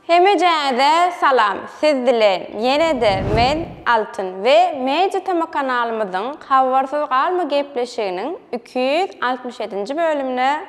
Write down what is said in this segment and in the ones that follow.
Hemejänize salam siz bilen ýene-de men Altyn we Media Tama kanalymyzyň Habarsyz galma gepleşiginiň iki ýüz altmyş ýedinji bölümine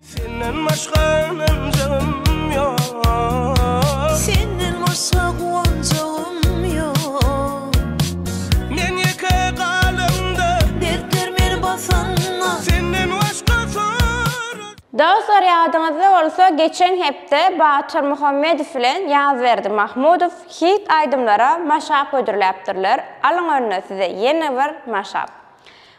Senden başga ynanjagym ýok. Senden başga guwanjagym ýok. Men ýeke galamda. Dertler meni basanda. Senden başga soran. Dostlar ýadyňyzda bolsa geçen hepde Batyr Muhammedow bilen Ýazberdi Mahmudow hit aýdymlara maşap hödürläpdirler, alyň önüne size ýene bir maşap.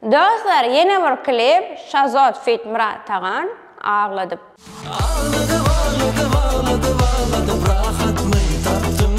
Dostlar ýene bir klip Şazod feat Myrat Tagan Agladyp. Agladyp agladyp agladyp agladyp rahatmy tapdym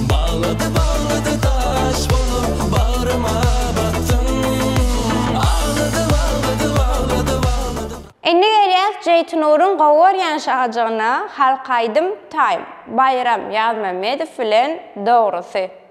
Baglady baglady daş bolup bagryma batdym Agladyp agladyp agladyp agladyp. Indi gelýäs Jeýtinuryň gowy görýän şajygyna Halk aýdym time Baýram Ýazmämmedow bilen dogrusy.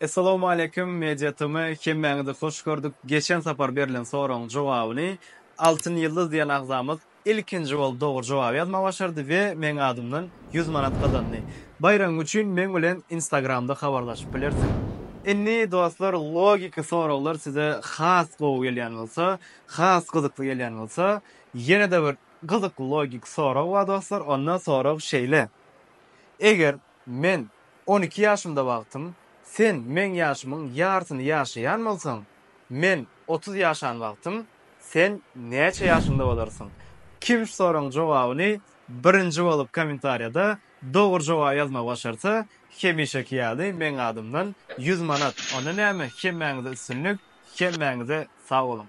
Essalawmaleýkim Media TM hemmäňizi hoş gördük geçen sapar berlen soragyň jogabyny Altyn Ýyldyz diýen agzamyz ilkinji bolup dogry jogaby ýazmagy başardy we meň adymdan ýüz manat gazandy. Baýragyň üçin meň bilen instagramda habarlaşyp bilersiň. Indi dostlar logiki soraglar size has gowy gelýän bolsa, has gyzykly gelýän bolsa ýene-de bir gyzykly logiki sorag bar dostlar onda sorag şeýle Eger Men on iki ýaşymda wagtym, sen meň ýaşymyň ýarsyny ýaşaýan bolsaň, men otuz ýaşan wagtym, sen näçe ýaşyňda bolarsyň? Kim şu soragyň jogabyny birinji bolup kommentariýada dogry jogaby ýazmagy başarsa, hemişeki ýaly meň adymdan ýüz manat. Onda näme, hemmäňize üstünlik, hemmäňize sag boluň!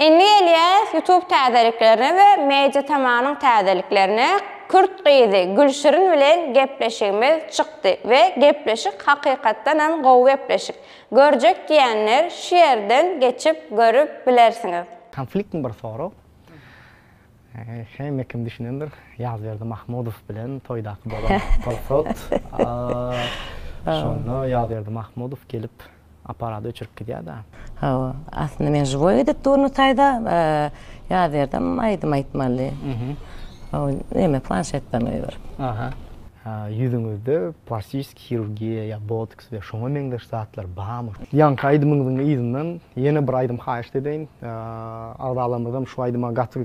Indi gelýäris YouTube täzeliklerine we Media Tamanyň täzeliklerine, kürt gyzy Gülşirin bilen gepleşigimiz çykdy we gepleşik hakykatdanam gowy gepleşik. Görjek diýenler şu ýerden geçip görüp bilersiňiz. Konfliktni bir sorag hemme kim düşünendir Ýazberdi Mahmudow bilen toýdaky bolan pursat şonda Ýazberdi Mahmudow gelip aparat öçürip gidýär da. Hawa, aslynda men žiwoý edip durny taýda ýaz ýerdem aýdym aýtmaly. Hawa, neme planşetden goýberip. Aha. Ýüzüňizde plastiski hirurgiýa ýa botoks we şoňa meňzeş zatlar barmy? Ýaňky aýdymyňyzyň yzyndan ýene bir aýdym haýyşt edeýin. Agzalarymyzam şu aýdyma gaty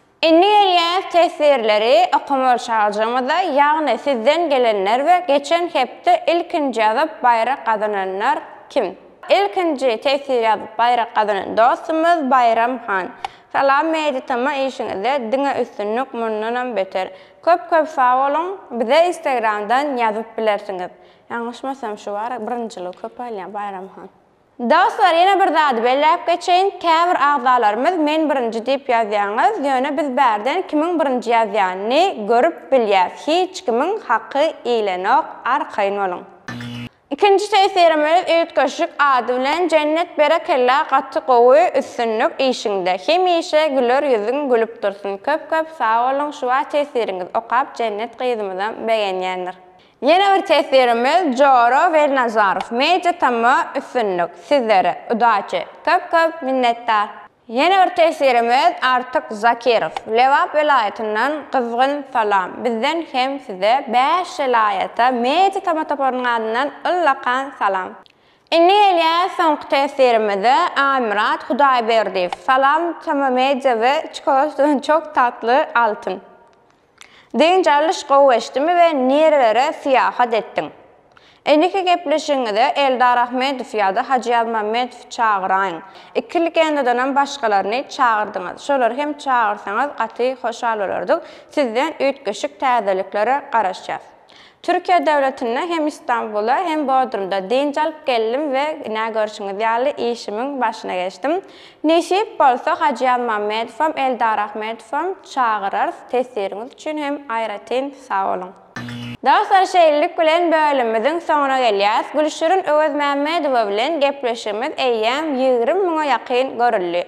Indi gelýän teswirleri okamaly çagajygymyza, ýagny sizden gelenler we geçen hepde ilkinji ýazyp baýrak gazananlar kim? Ilkinji teswir ýazyp baýrak gazanan dostumyz Baýram han. Salam Media tama işiňizde diňe üstünlik mundanam beter. Köp köp sag boluň, bize instagramdan ýazyp bilersiňiz. Ýalňyşmasam şu bar birinjiligi köp alýan Baýram han. Dostlar ýene bir zady belläp geçeýin, käbir agzalarymyz men birinji diýip ýazýaňyz, ýöne biz bärden kimiň birinji ýazýan ny görüp bilýäs, hiç kimiň haky iýlenok, arkaýyn boluň. Ikinji tesirim öz üýtgeşik ady bilen Jennet berekella gaty gowy üstünlik işiňde hemişe güler ýüzüň gülüp dursun köp köp sag boluň şuba tesiriňizi okap Jennet gyzymyzam begenýändir. Ýene bir teswirimiz Jora Welnazarow Media TM üstünlik sizlere udaçi köp köp minnetdar. Ýene bir teswirimiz Artyk Zakirow Lebap welaýatyndan gyzgyn salam bizden hem size bäş welaýata Media TM toparynyň adyndan ullakan salam. Indi gelýär soňky teswirimize Aýmyrat Hudaýberdiýew Salam TM Media we Çikolatadan çok tatlı altyn. Dynç alyş gowy geçdimi we nirelere syýahat etdiň? Indiki gepleşigiňize Eldar Ahmedow ýa-da Hajy Ýazmämmedowy çagyraýyň. Iki legendadanam başgalaryny çagyrdyňyz. Şolary hem çagyrsaňyz gaty hoşal bolardyk. Sizden üýtgeşik täzeliklere garaşýas. Türkiýe döwletinde hem Istanbula hem Bodrumda dynç alyp geldim we ine görşüňiz ýaly işimiň başyna geçdim. Nesip bolsa Hajyýaz Mammedowam, Eldar Ahmedowam çagyrarys, tesiriňiz üçin hem aýratyn sag boluň. Dostlar şeýlelik bilen bölümimiziň soňuna gelýäs. Gülşirin Öwezmämmedowa bilen gepleşigimiz eýýäm ýigrimi müňe ýakyn görüldi.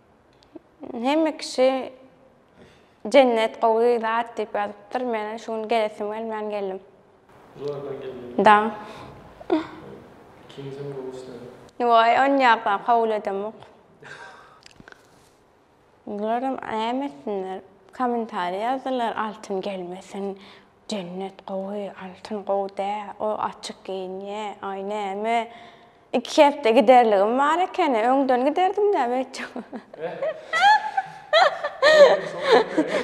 Hemme kişi jennet gowy zat diýip ýazypdyr. Men şu gün gelesim gelmän geldim. Zordan geldiňmi? Da. Ikinjim gowy işledi. Waý, onýakdan kabul edemok. Bularam näme etsinler? Kommentariýa ýazdylar, Altyn gelmesin. Jennet gowy, Altyn gowy däl, o açyk geýinýä, aý näme, iki hepde giderligim bar ekeni, öňden giderdim-dä beýtjek.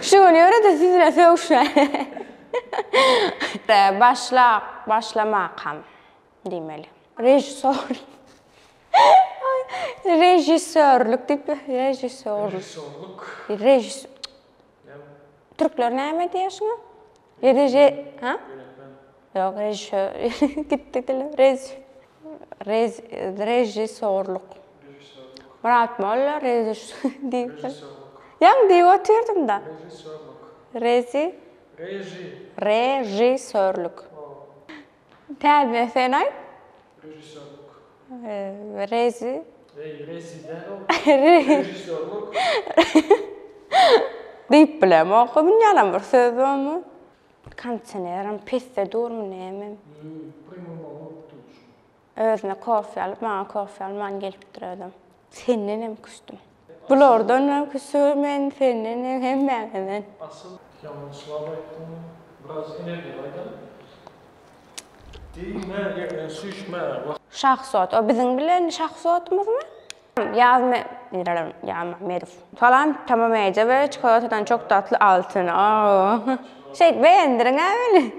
Şu gün ýöre-de sizinle sögüşmäýin. Başlap, başlamakam diýmeli. Režissor. Režissörlik diýip, režissor. Režissorlyk. Režis. Türkler näme diýýär şuňa? Reže, ha? Ýok, režissýor. Gitdi dilim. Rez, rez, režissýorlyk. Murat molla reziş diýip. Ýaňy diýip otyrdym-da. Rezi. Režissýorlyk. Täze sen aýt. Režissýorlyk. Reži. Reý, reži däl ol. Režissýorlyk. Diýip bilemok, bilýänam bir söz bormy? Kondisionerim pesde durmy nämem? Ýok, premýer bolmapdyr şu. Özüne kofe alyp, maňa kofe alman gelipdir özem. Sendenem küsdüm. Bulardanam küsügin men sendenem hemmäňeden. Asyl ýaman çyvap aýtdyňmy? Biraz energiýa gaýdan. Diýme ýerden süýşme wah. Şahsot o biziň bilen şahsotymyzmy? Ýaz me Ýazmahmedow. Salam Tamam eje we çikolatadan çok tatly altyn aww şeýt beýendirňä meni.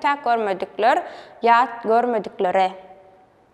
Tä görmedikler ýat görmediklere.